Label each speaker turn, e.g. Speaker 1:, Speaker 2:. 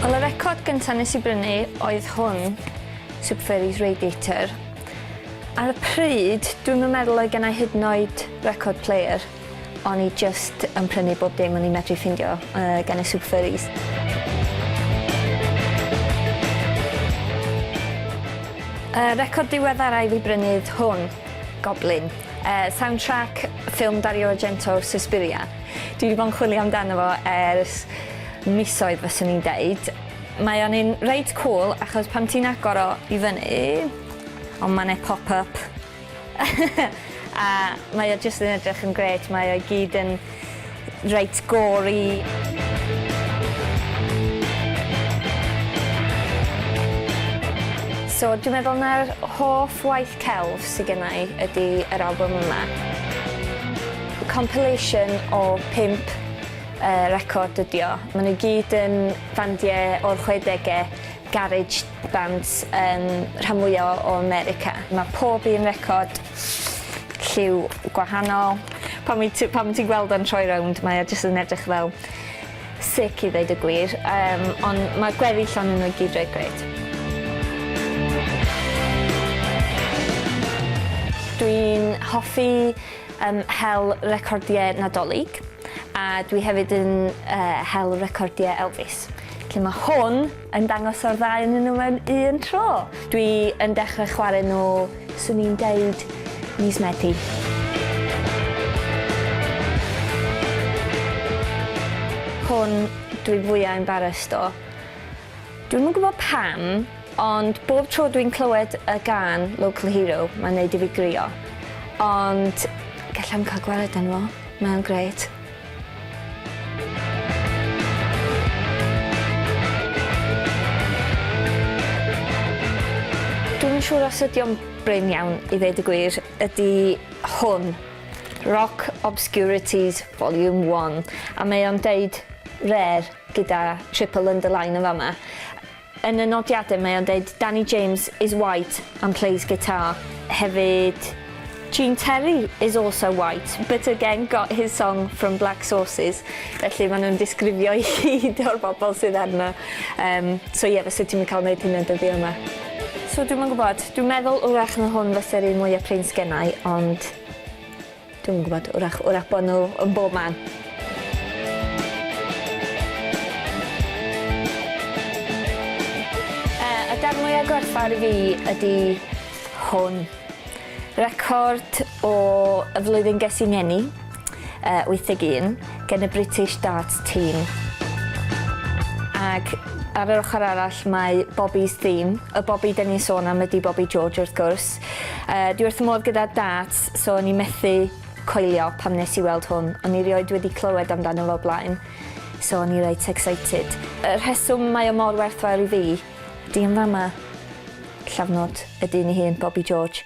Speaker 1: Wel, y record gyntaf nes i brynu oedd hwn, Super Furries Radiator. Ar y pryd, dwi'm yn meddwl oedd gennai hyd yn oed record player. O'n i jyst yn prynu bob dim o'n i'n medru ffindio gan y Super Furries. Y record diweddara i fi brynu yw hwn, Goblin, sound track ffilm Dario Argento, Suspiria. Dwi 'di bod yn chwilio amdano fo ers misoedd fyswn i'n deud. Mae o'n un reit cwl achos pan ti'n agor o i fyny, o ma' 'ne pop up. a mae o jyst yn edrych yn grêt, mae o i gyd yn reit gory. So dwi'n meddwl na'r hoff waith celf sydd gen i ydy yr album yma. Compilation o pimp uh, record ydi o. Maen nhw gyd yn fandiau o'r 60au, garage Band yn rhan mwya o America. Mae pob un record lliw gwahanol. Pan wyt ti pan ti'n gweld o'n troi rownd mae o jyst yn edrych fel sick i ddeud y gwir yym ond mae gweddill onyn nhw i gyd reit grêt. Dwi'n hoffi yym hel recordiau Nadolig a dwi hefyd yn yy hel recordiau Elvis. Felly mae hwn yn dangos o'r ddau ynnyn nhw mewn un tro. Dwi yn dechrau chwarae nhw, swn i'n deud, mis Medi. hwn dwi fwya embarrassed o. Dwi'm yn gwybod pam, ond bob tro dwi'n clywed y gan Local Hero, mae'n neud i fi grio. Ond gallai'm cael gwared arno fo, mae'n grêt. Dwi'm yn siŵr os ydi o'n brin iawn i ddeud y gwir, ydi hwn, Rock Obscurities Volume 1, a mae o'n deud rare gyda triple underline yn fama. Yn y nodiadau mae o'n deud Danny James is white and plays guitar hefyd. Gene Terry is also white but again got his song from black sources felly ma' nhw'n disgrifio i gyd o'r bobl sydd arno yym so ie fyset ti'm yn cael neud hynna dyddia yma. So dwi'm yn gwbod. Dwi'n meddwl 'w'rach na hwn fase'r un mwya prin sgennai ond Dwi'm yn gwybod, 'w'rach, 'w'rach bod nhw yn bob man. Yy, y darn mwya' gwerthfawr i fi ydi hwn. Record o y flwyddyn ges i 'ngeni, yy, 81, gen y British Darts Team. Ac ar yr ochr arall mae Bobby's Theme. Y Bobby 'den ni'n sôn am ydi Bobby George, wrth gwrs. Yy, dwi wrth fy modd gyda darts, so o'n i methu coelio pam nes i weld hwn. O'n i rioed wedi clywed amdano fo blaen, so o'n i reit excited. Y rheswm mae o mor werthfawr i fi, Dyn fama, llafnod, y dyn ei hun, Bobi George.